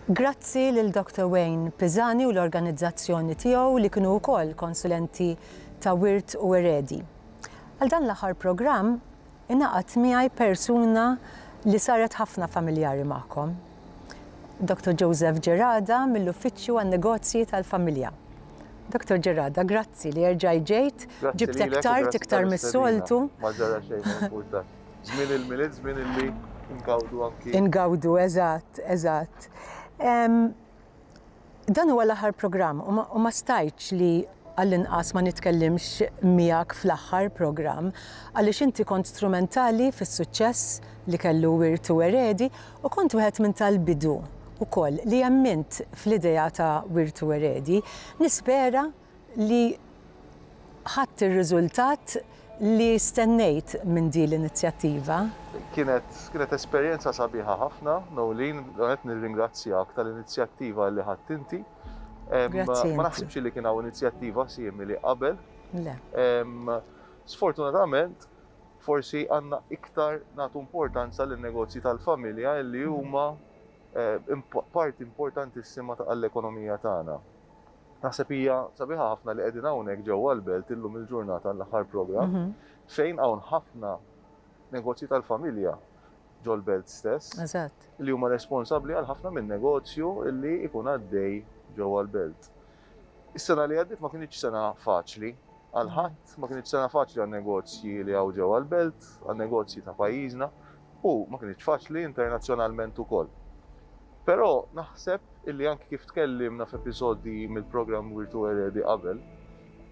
Grazzi lil Doctor Wayne Pisani u l-organizzazzjoni tiegħu li kienu wkoll konsulenti ta' Wirt u Eredi. Għal dan l-aħħar programm ingħaqad miegħi persuna li saret ħafna familjari magħkom. Dottor Joseph Gerada mill-Uffiċċju għan-Negozji tal-Familja. Dottor Gerada, grazzi li erġajt ġejt, ġibtek tard iktar mis-soltu. Ma ġara xejn ma importa. Żmien il-milied, żmien illi ngawdu anki. Ingawdu, eżatt, eżatt. Dan huwa l-aħħar programm u ma, u ma stajtx li għall-inqas ma nitkellimx miegħek fl-aħħar programm għaliex inti kont strumentali fis-suċċess li kellu Wirt u Eredi u kont wieħed minn tal-bidu wkoll li emmint fl-idea ta' Wirt u Eredi. Nispera li ħadt ir-riżultat li stennejt minn din l-inizjattiva. Kienet kienet esperjenza sabiħa ħafna, Noeleen, verament nirringrazzjak tal-inizjattiva li ħadt inti. Grazzi. Ma naħsibx li kien hawn inizjattiva simili qabel. Le. Sfortunatament, forsi għandna iktar nagħtu importanza lin-negozji tal-familja li huma parti importantissima għall-ekonomija tagħna. Naħseb hija sabiħa ħafna li qegħdin hawnhekk ġewwa l-belt illum il-ġurnata l-aħħar programm fejn hawn ħafna negozji tal-familja ġol-belt stess. Eżatt. Li huma responsabbli għal ħafna minn negozju li jkun għaddej ġewwa l-belt. Is-sena li għaddiet ma kinitx sena faċli. għal ħadd, ma kinitx sena faċli għan-negozji li hawn ġewwa l-belt, għan-negozji ta' pajjiżna, u ma kinitx faċli internazzjonalment ukoll. Però naħseb illi anki kif tkellimna f'episodji mill-programm Wirtu Eredi qabel,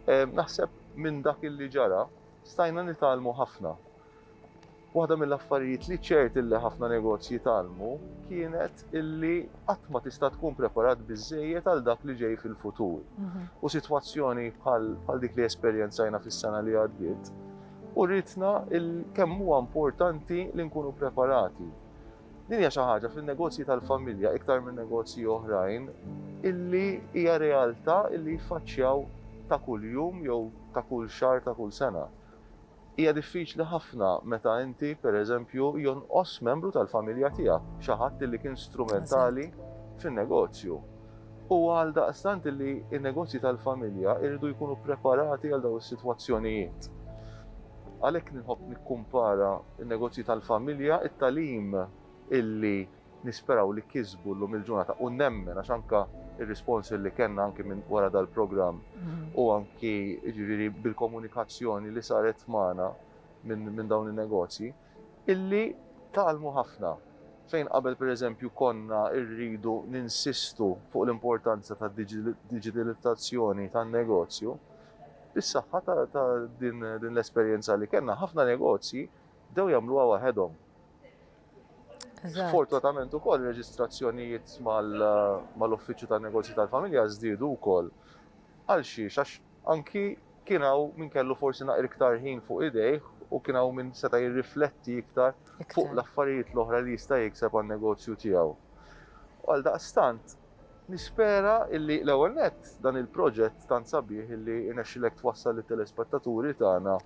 naħseb minn dak illi ġara stajna nitgħallmu ħafna. Waħda mill-affarijiet li ċert illi ħafna negozji tgħallmu kienet illi qatt ma tista' tkun preparat biżejjed għal dak li ġej fil-futur. Mhm. U sitwazzjoni bħal dik li esperjenzajna fis-sena li għaddiet, u rritna kemm huwa importanti li nkunu preparati. Din hija xi ħaġa fin-negozji tal-familja iktar minn negozji oħrajn illi hija realtà illi jfaċċjaw ta' kuljum jew ta' kull xahar ta' kull sena. Hija diffiċli ħafna meta inti, per eżempju, jonqos membru tal-familja tiegħek, xi ħadd li kien strumentali fin-negozju. Huwa għaldaqstant li n-negozji tal-familja jridu jkunu ppreparati għal dawn is-sitwazzjonijiet. Għalhekk nħobb nikkumpara n-negozji tal-familja, it-tagħlim illi Nisperaw li kisbu llum il-ġurnata u nemmen għax anke r-rispons li kellna anke minn wara dal-programm u anke jiġifieri bil-komunikazzjoni li saret magħna minn dawn in-negozji illi tgħallmu ħafna fejn qabel pereżempju konna rridu ninsistu fuq l-importanza tad-diġitalizzazzjoni tan-negozju, bis-saħħa ta' din l-esperjenza li kellna ħafna negozji bdew jagħmluha waħedhom. Sfortunatament ukoll ir-reġistrazzjonijiet mal-Uffiċċju tan-Negozji tal-Familja żdiedu wkoll. Għal xiex? Għax anki kien hawn min kellu forsi naqra iktar ħin fuq idejh u kien hawn min seta' jirrifletti iktar fuq l-affarijiet l-oħra li jista' jikseb għan-negozju tiegħu. Għaldaqstant, nispera illi l-ewwel nett dan il-proġett tant sabiħ illi rnexxilek twassal lit-telespettaturi tagħna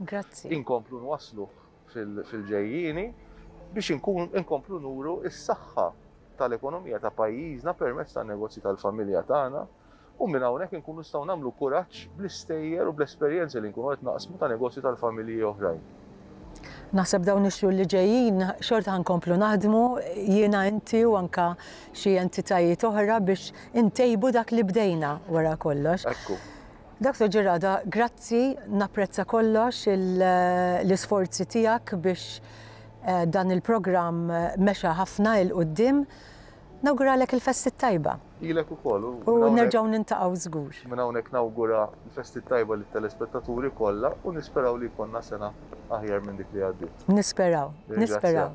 inkomplu nwassluh. fil-ġejjieni biex inkomplu nuru s-saħħa tal-ekonomija ta' pajjiżna permezz tan-negozji tal-familja tagħna u minn hawnhekk inkunu nistgħu nagħmlu kuraġġ bl-istejjer u bl-esperjenzi li nkunu qed naqsmu ta' negozji tal-familji oħrajn. Naħseb dawn ix-xhur li ġejjin xorta ħa nkomplu naħdmu jiena inti u anke xi entitajiet oħra biex intejbu dak li bdejna wara kollox. Ekku. Doctor Ġirada, grazzi, napprezza kollox l-isforzi tiegħek biex eh, dan il-programm mexa ħafna il qudiem Nawguralek il-festi t-tajba. Ilek u koll. U nerġaw nintaqaw zgur. Minn hawnhekk nawgura l-festi t-tajba li telespettaturi kollha u nisperaw li konna sena aħjar minn dik li għaddiet. Nisperaw, nisperaw.